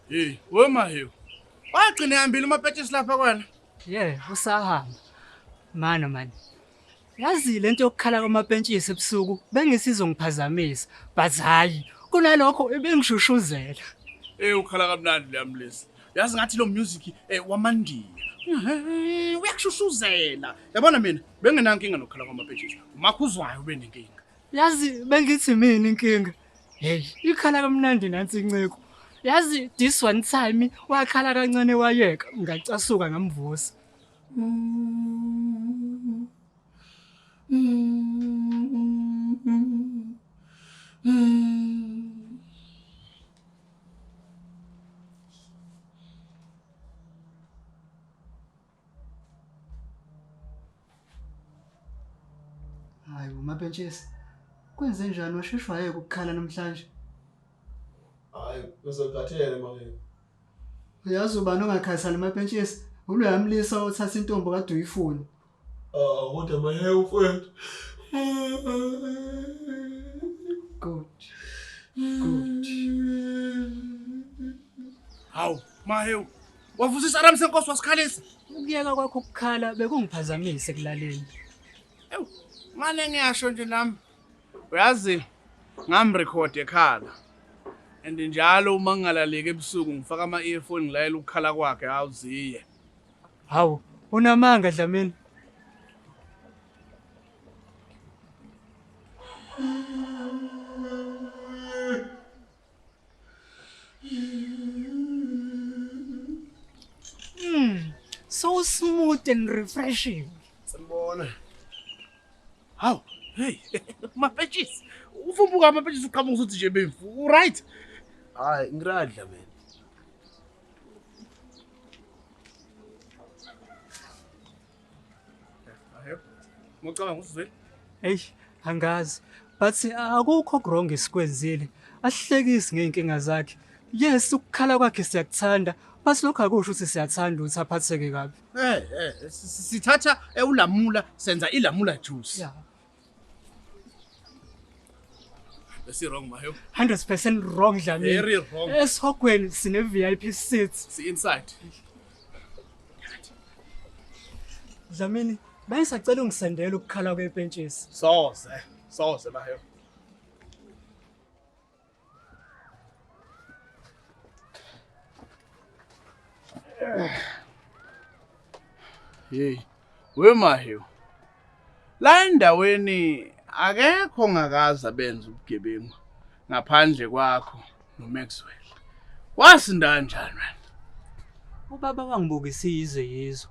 Hey, wemahiyo. Wagcina ehambile umapetshisi lapha kwena. Ye, usahamba. Mano mani. Yazi lento yokukhala kwamapentshisi ebusuku bengisizongiphazamisa, but hayi kunalokho ebengishushuzelwa. Hey, ukhala kamnandi leyamlisa. yazi ngathi lo music eh, wamandiya uyakushushuzela yabona mina bengenankinga nokukhala kwamapeshesha umakho uzwayo ube nenkinga yazi bengithi mina inkinga heyi ikhala kamnandi nansi inceku yazi this one time wakhala kancane wayeka ngacasuka ngamvusa mm -hmm. Hayi umapentshesi. Kwenze njani washeshwa yeke ukukhala namhlanje? Hayi, uzokhathele manje. Uyazi ubani ongakhathali mapentshesi? Ulo yamlisa othatha intombi kade uyifuna. Ah, kodwa maye mfowethu. Good. Good. Hawu, mahewu. Wavusisa Ram senkosi wasikhalisa. Ukuyeka kwakho ukukhala bekungiphazamise kulaleni. Ewu, manje ngiyasho nje nami. Uyazi ngamrecord ekhala. And njalo uma ngingalaleki ebusuku ngifaka ama earphone ngilayela ukukhala kwakhe awuziye. Hawu, unamanga Dlamini. Mm, so smooth and refreshing. Sanibona. Hawu, hey, mapetshisi. Ufumbuka amapetshisi uqhamuka usuthi nje bemfu. Right? Hayi, ngiradla mina. Mucabanga ukuthi uzwile? Eish, angazi. But akukho wrong esikwenzile. Asihlekisi ngeenkinga zakhe. Yes, ukukhala kwakhe siyakuthanda. But lokho akusho ukuthi siyathanda ukuthi aphatheke kabi. Eh, eh, sithatha ewulamula senza ilamula juice. Yeah. Besi wrong mayo. 100% wrong Dlamini. Very wrong. Esihogweni sine VIP seats. Si inside. Dlamini, bayisacela ungisendela ukukhala kwepentshisi. Soze, soze mayo. Hey, wemahiyo. La endaweni akekho ngakaza benza ubugebengu ngaphandle kwakho noMaxwell. Wasinda kanjani wena? Ubaba wangibukisa izwe yizwe.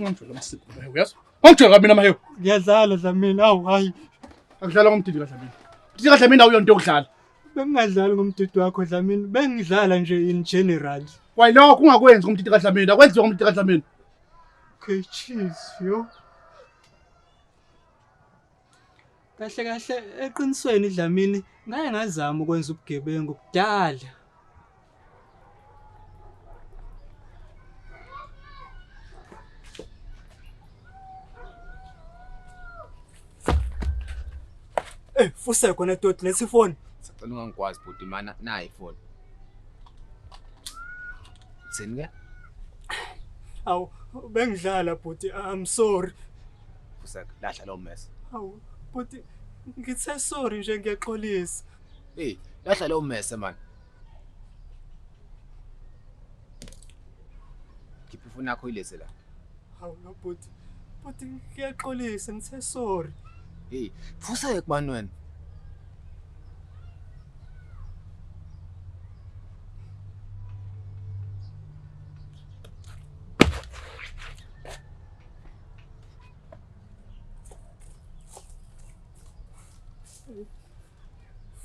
Ngangijwayele amasiko naye uyazwa? Ngangijwayele mina mahewu. Ngiyadlala Dlamini, awu hayi. Akudlala ngomdidi kaDlamini. Mdidi kaDlamini awuyona into yokudlala. Bengingadlali ngomdidi wakho Dlamini, bengidlala nje in general. Wayilokho ungakwenzi ngomdidi kaDlamini, akwenziwa ngomdidi kaDlamini. Okay, cheese, yo. Kahle kahle eqinisweni Dlamini ngaye ngazama ukwenza ubugebengu kudala. Eh, fuse khona doti lesi phone. Sacela ungangikwazi bhuti mana nayi phone. Thini ke? Awu bengidlala bhuti I'm sorry. Fuseka, lahla lowo mess. Hawu, bhuti ngithe sorry nje ngiyaxolisa. Hey, lahla lowo mess man. Khipha ifoni yakho ilese la. Hawu no bhuti. Bhuti ngiyaxolisa ngithe sorry. Hey, fuseka man wena.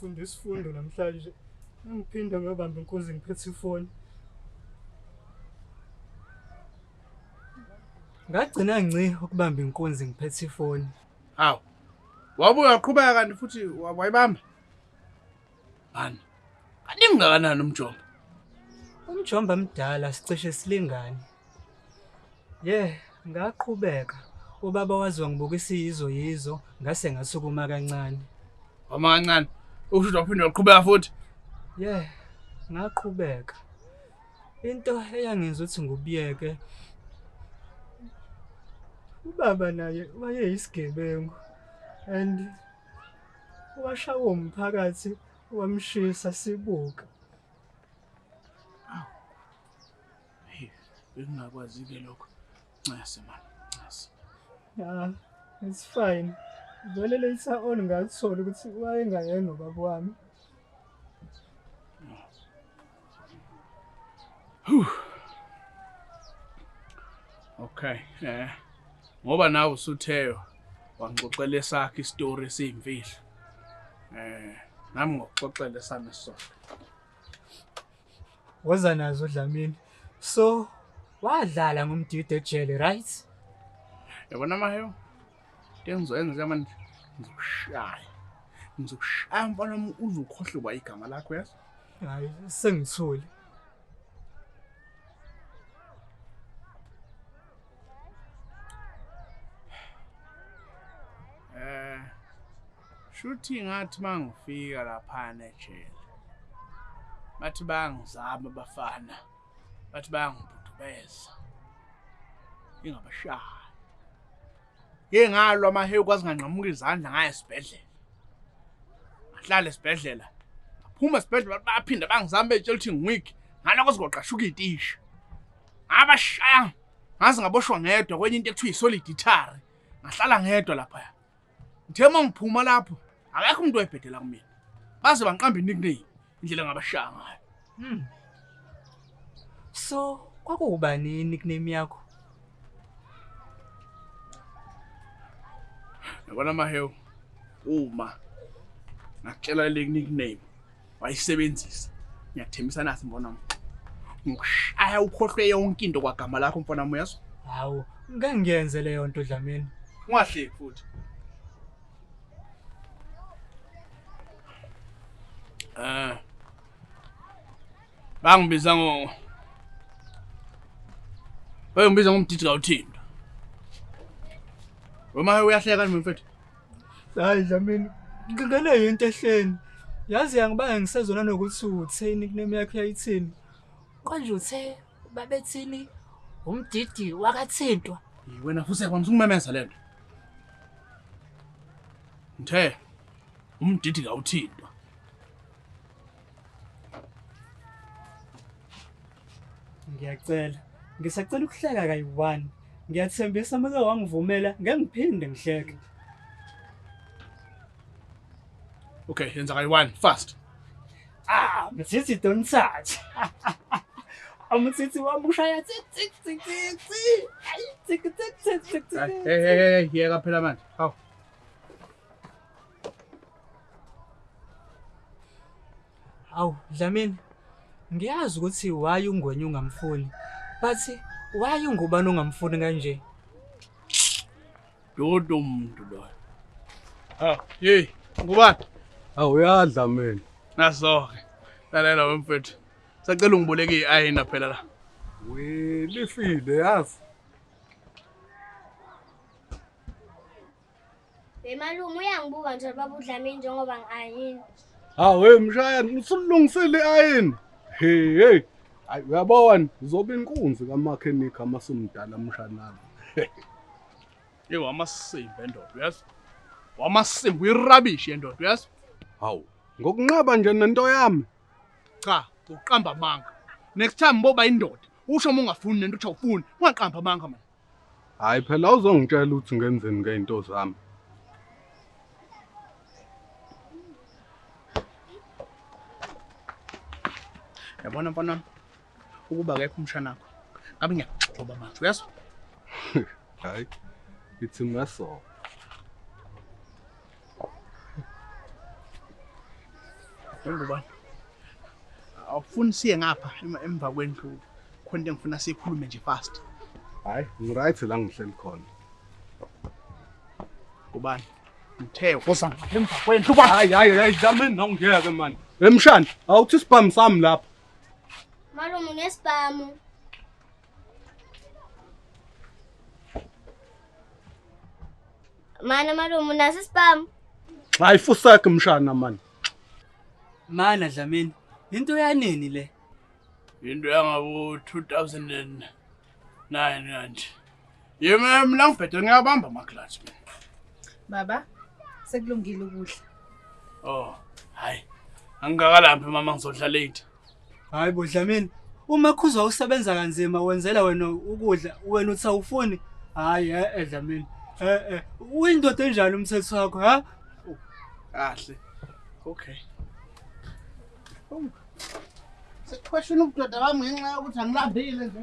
Funda isifundo namhlanje. Ngiphinde ngiyobamba inkunzi ngiphethe ifoni. Ngagcina ngci ukubamba inkunzi ngiphethe ifoni. Hawu. Wabuye waqhubeka kanti futhi wa- wayibamba. Mani. Kaningi kangakanani umjombo? Umjomba mdala sicishe silingane. Ye, ngaqhubeka. Ubaba wazi wangibuka isiyizo yizo ngase ngasukuma kancane. Wama kancane. Ukusho waphinde waqhubeka futhi. Ye, ngaqhubeka. Into eyangenza ukuthi ngubiyeke ubaba naye wayeyisigebengu and washawa umphakathi wamshisa sibuka. Hey, bekungakwazi-ke lokho. Ncese mani, ncese. Ya, it's fine. Vele later on ngakuthola ukuthi wayengayena ubaba wami. Okay, eh. Ngoba nawe usutheyo wangixoxela esakhe isitori esiyimfihlo. Eh, nami ngokuxoxela esami sona. Woza nazo Dlamini. So wadlala ngomdidi ejele, right? Yabona maheyo. Engizoyenza manje ngizokushaya. Ngizokushaya mfana uze ukhohle kwa igama lakho yazi. Hayi sengithule. Shuthi ngathi mangifika laphana ejele. Bathi bangizama abafana. Bathi bangibhudubeza. Ingabashaya. Ngeke ngalwa amahewu kwazi nganqamuka izandla ngaye esibhedlela. Ngahlala esibhedlela. Ngaphuma esibhedlela baphinda bangizama betshela ukuthi ngiweak. Ngaloko sigoqashuka itisha. Ngabashaya. Ngaze ngaboshwa ngedwa kwenye into ekuthiwa isolid itari. Ngahlala ngedwa lapha. ngithe uma ngiphuma lapho akekho umuntu oyebhedela kumina baze bangiqamba inikname indlela ngabashaya ngayo hmm. so kwakuwubani inikname yakho yabona mahewu uma ngakutshela le nickname wayisebenzisa ngiyathembisa nasi mbona wami ngikushaya ukhohlwe yonke into kwagama lakho mfana wami uyazwa hawu ngeke ngiyenze leyo nto dlamini ungahleki futhi eh bangibiza ngo Hey ngibiza ngomdidi kawuthinta Wema uyahleka nje mfethu Hayi Dlamini, ngingene yinto ehleni. Yazi yangibanga ngisezona nokuthi utheni nickname yakhe yayithini. Konje uthe babethini umdidi wakathintwa. Wena futhi kwamisa ukumemeza lento. Ngithe umdidi kawuthintwa. ngiyacela ngisacela ukuhleka kayi-one ngiyathembisa uma uke wangivumela ngeke ngiphinde ngihleke okay yenza kayi-one fast ah msithi don't touch umsithi wami ushaya tsi tsi tsi tsi tsi ayi tsi tsi tsi tsi tsi Hey, hey, hey, hey, yeka phela manje. Hawu. Awu Dlamini, ngiyazi ukuthi why uNgwenya ungamfuni. But why ungubani ongamfuni kanje? Dodo umuntu lo. Ha, hey, ngubani? Awu uyadla mina. Nasoke. Lalela wemfethu. Sacela ungiboleke iayina phela la. We lifile yazi. Hey malume uyangibuka nje baba uDlamini njengoba ngi-ayini. Hawu hey mshayana usulungisile i-ayini. Hey hey. Hayi uyabona uzoba inkunzi kamakhenikha masumdala mshanami. Hey wamasimba endoda uyazi. Wamasimba uyirabishi endoda uyazi. Hawu ngokunqaba nje nento yami. Cha uqamba amanga. Next time boba indoda. Usho uma ungafuni nento uthi awufuni. Ungaqamba amanga manje. Hayi phela uzongitshela ukuthi ngenzeni ngeinto zami. Yabona mfana wami ukuba akekho umshana wakho. Ngabe ngiyakugxoba manje uyazwa? Hayi. It's a muscle. Ngubani? Awufuni siye ngapha emva kwendlu khona into engifuna sikhulume nje fast. Hayi, ngiright la ngihleli khona. Ngubani? Ngithe ukosa emva kwendlu ba. Hayi hayi hayi dlamini nongiyeke man. Emshana, awuthi sibhamu sami lapha. Malume unesibhamu. Mana malume unaso isibhamu? Xa ifusakhe mshana mani. Mana Dlamini, into yanini le? Into yangabo 2009 kanje. Yema mina ngibhedwe ngiyabamba ama clutch. Baba sekulungile ukudla. Oh, hayi. Angikakalaphi mama ngizodla late. Hayi bo Dlamini, uma khuzwa usebenza kanzima wenzela wena ukudla, wena uthi awufuni. Hayi eh eh Dlamini. Eh eh, uyindoda enjani umthetho wakho, ha? Kahle. Okay. Sekuqhweshela ubudoda bami ngenxa yokuthi angilambile nje.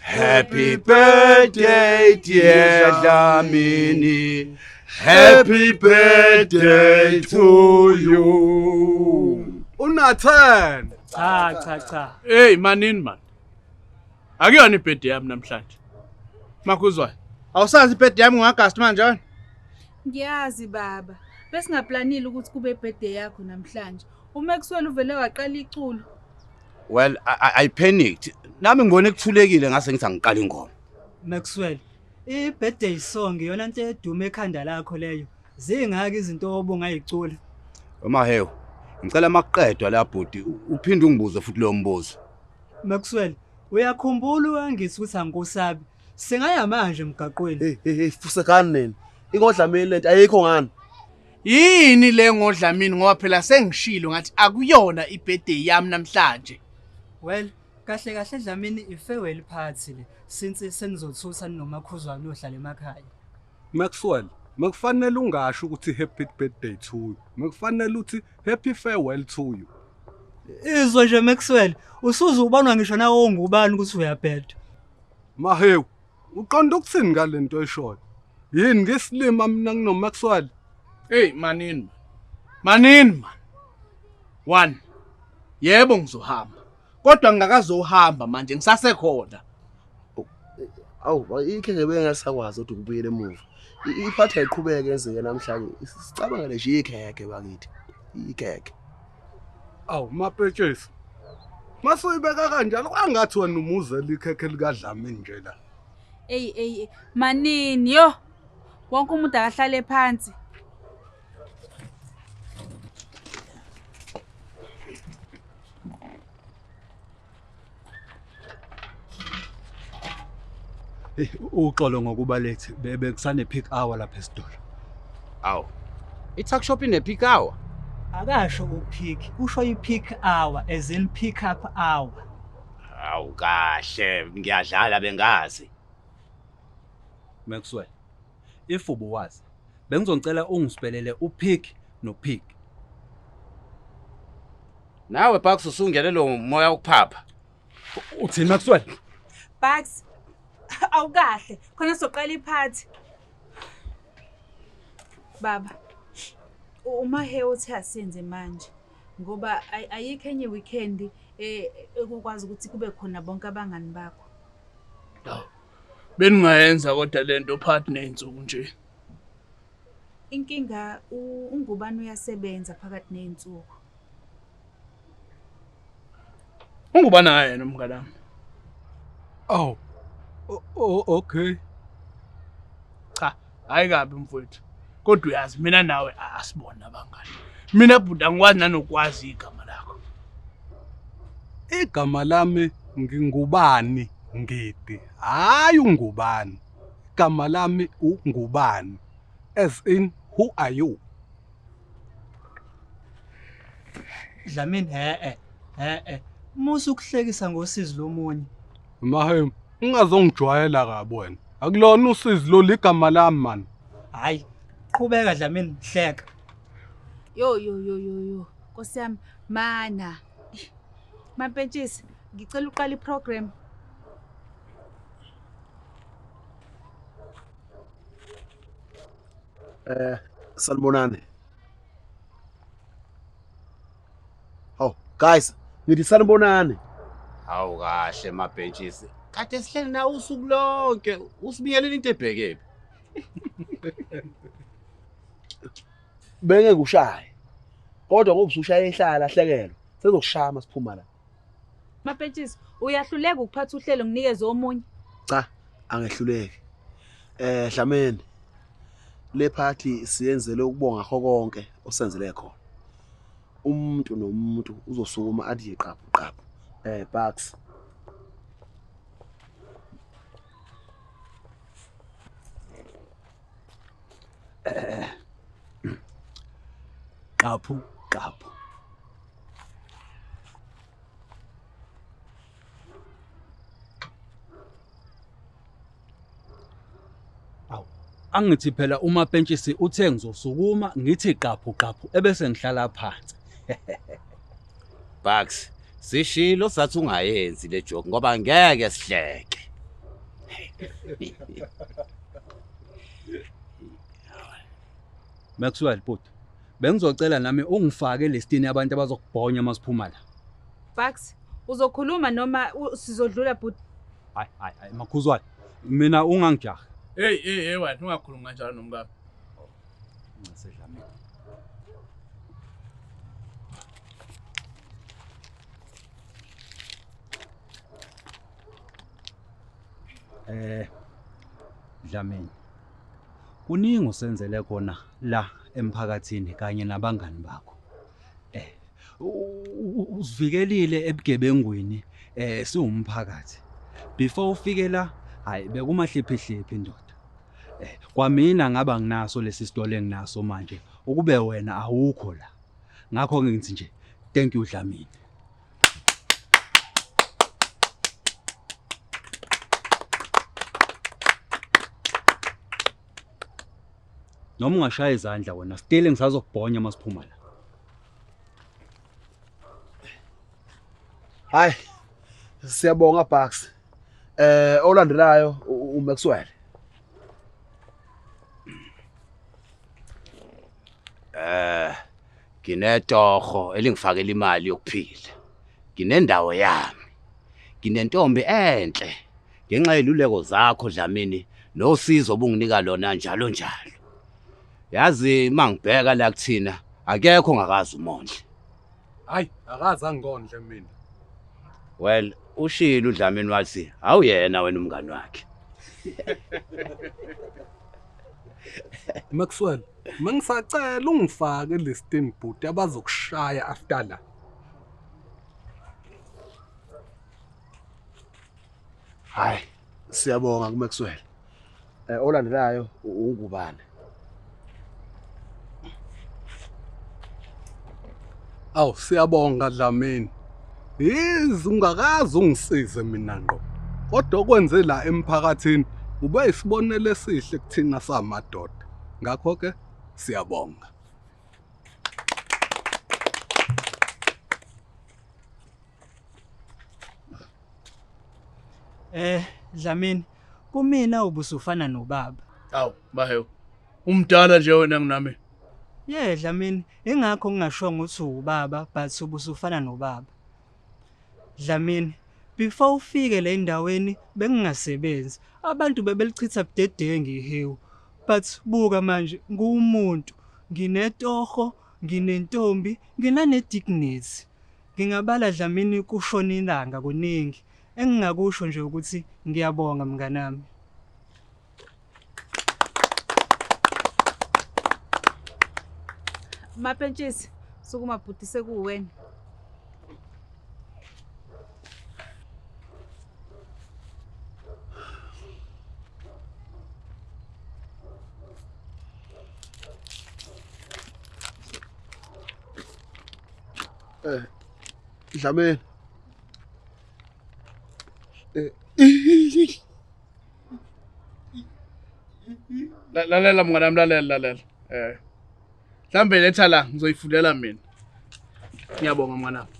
Happy birthday dear Dlamini Happy birthday to you Unathan Cha cha cha Hey manini man Akuyona ibirthday yami namhlanje Makuzwayo Awusazi ibirthday yami ngoAugust manje wena Ngiyazi baba besingaplanile ukuthi kube birthday yakho namhlanje uMaxwell uvele waqala iculo well I, I, I panicked nami ngibone kuthulekile ngase ngithi angiqala ingoma Maxwell i-birthday song iyona nto edume ekhanda lakho leyo zingaki izinto obungayicula uma hewu ngicela makuqedwa la bhuti uphinde ungibuze futhi leyo mbuzo Maxwell uyakhumbula uyangithi ukuthi angikusabi singaya manje emgaqweni hey hey fusekani nina ingodlameni lento ayikho ngani Yini le ngodlamini ngoba phela sengishilo ngathi akuyona ibirthday yami namhlanje. Well, kahle kahle Dlamini i-farewell party le since senizothusa ninomakhuzwana ohlala emakhaya. Maxwell, mekufanele ungasho ukuthi happy birthday to you. Mekufanele uthi happy farewell to you. Izwe nje Maxwell, usuze ubonwa ngisho nawo ngubani ukuthi uyabheda. Mahewu, Uqonda ukuthini ngalento oyishoyo? Yini ngisilima mina nginoMaxwell? Hey manini. Manini man. One. Yebo ngizohamba. Kodwa ngingakazohamba manje ngisasekhona. Awu ikhe ngebe ngasakwazi ukuthi ngibuyele emuva. Iphatha iqhubeke enzeke namhlanje. Sicabangele nje ikheke bakithi. Ikheke. awu mapetshesi masoyibeka kanjalo kwangathi wena umuzela ikhekhe likadlamini nje la eyi eyi manini yo wonke umuntu akahlale phansi Eh, uxolo ngokuba late Be- bekusane peak hour lapha esitolo awu i-tuck shop ine-peak hour akasho upeak usho i-peak hour as in pick up hour awu kahle ngiyadlala bengazi maxwell if ubuwazi bengizongicela ungisipelele upeak nopeak Nawe Bucks usungene lo moya ukuphapha. Uthini Maxwell? Bucks awukahle khona soqala iphathi. Baba uma he uthi asenze manje ngoba ayikho enye weekend eh, ekukwazi ukuthi kube khona bonke abangani bakho. Hawu. Beningayenza kodwa lento phathi nezinsuku nje. Inkinga ungubani uyasebenza phakathi nezinsuku. Ungubani naye yena umngane wami? Oh. Oh, okay. Cha, hayi kabi mfowethu. Kodwa uyazi mina nawe asibona abangani. Mina bhuti angikwazi nanokwazi igama lakho. Igama lami ngingubani ngidi. Hayi ungubani. Igama lami ungubani. As in who are you? Dlamini he-e he-e musa ukuhlekisa ngosizi lomunye Mahem, ungazongijwayela kabi wena. Akulona usizi lo ligama lami man. hhayi qhubeka Dlamini hleka yo yo yo yo yo nkosi yami mana Eish. mampentshisi ngicela uqala iprogram Eh sanibonani. Oh guys, ngithi sanibonani. Hawu kahle mabhentshisi. Kade sihleli nawe usuku lonke. Usibiyeleni into ebhekephi? Bengeke ushaye. Kodwa ngoba usushaya ehlala hlekelwa. Sezokushaya masiphuma la. Mapentshisi, uyahluleka ukuphatha uhlelo nginikeze omunye. Cha, angehluleki. Eh Dlameni. Le party siyenzele ukubonga kho konke osenzele khona. Umuntu nomuntu uzosukuma athi yiqaphu qaphu. Eh Bucks. Eh. Qaphu qaphu. angithi phela uma pentshisi uthe ngizosukuma ngithi qaphu qaphu ebese ngihlala phansi Bucks sishilo sathi ungayenzi le joke ngoba ngeke sihleke Maxwell bhuti Bengizocela nami ungifake elistini yabantu abazokubhonya uma siphuma la. Bucks, uzokhuluma noma u- sizodlula bhuti? Hayi, hayi, hayi, makhuzwane. Mina ungangijahi. Hey, hey, hey, wena ungakhulumi kanjalo nomkakho. Eh Dlamini. Kuningi usenzele kona la emphakathini kanye nabangani bakho. Eh usivikelile ebugebengwini eh siwumphakathi. Before ufike la hayi bekumahliphihliphi indoda. Eh kwamina ngaba nginaso lesi sitolo enginaso manje ukube wena awukho la. Ngakho ngithi nje thank you Dlamini. noma ungashaya izandla wena stile ngisazokubhonya uma siphuma la hayi siyabonga bucks eh olandelayo uMaxwell Eh nginetoho elingifakela imali yokuphila. Nginendawo yami. Nginentombi enhle ngenxa yeluleko zakho Dlamini nosizo obunginika lona njalo njalo. Yazi mangibheka la kuthina akekho ngakazi umondle. Hayi, akaze angikondle mina. Well, ushilo uDlamini wathi awuyena wena umngani wakhe. Maxwell, mangisacela ungifake listin bhuti abazokushaya after la. Hayi, siyabonga kuMaxwell. Eh olandelayo ungubane. Aw siyabonga Dlamini. Yizi ungakazi ungisize mina ngqo. Kodwa okwenze la emphakathini ube isibonelo esihle kuthina samadoda. Ngakho ke siyabonga. Eh Dlamini kumina ubusufana nobaba. Awu bahewu. Umdala nje wena nginami. Yeah Dlamini ingakho ngingashongo ukuthi ubaba but ubusufana nobaba. Dlamini before ufike le ndaweni bengingasebenzi abantu bebelichitha budedengi ihewu but buka manje nguwumuntu nginetoho nginentombi nginanedignity Ngingabala Dlamini kushona ilanga kuningi engingakusho nje ukuthi ngiyabonga mnganami. Mapentshisi sukuma bhuti sekuwena. Eh. Dlameni. Eh. Lalela mngane wami lalela lalela. Eh. Mhlambe letha la ngizoyifundela mina. Ngiyabonga mngane wami.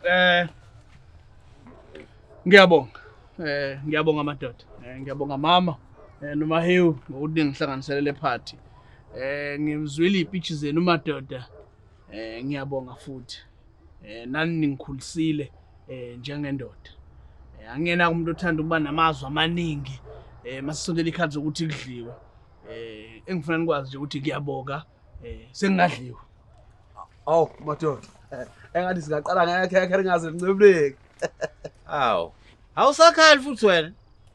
Eh. Ngiyabonga. Eh ngiyabonga madoda. Eh ngiyabonga mama. Eh nomahewu ngokuthi ngihlanganisele le party. Eh ngimzwile ipitch zenu madoda. Eh ngiyabonga futhi. Eh nani ningikhulisile eh njengendoda. Eh angena umuntu othanda ukuba namazwi amaningi eh masisondela ikhathi zokuthi kudliwe. Eh engifuna nikwazi nje ukuthi kuyaboka eh sengingadliwa. Aw madoda. Eh, engathi singaqala ngeke ngeke ringaze lincebuleke. Aw. Awusakhali futhi wena.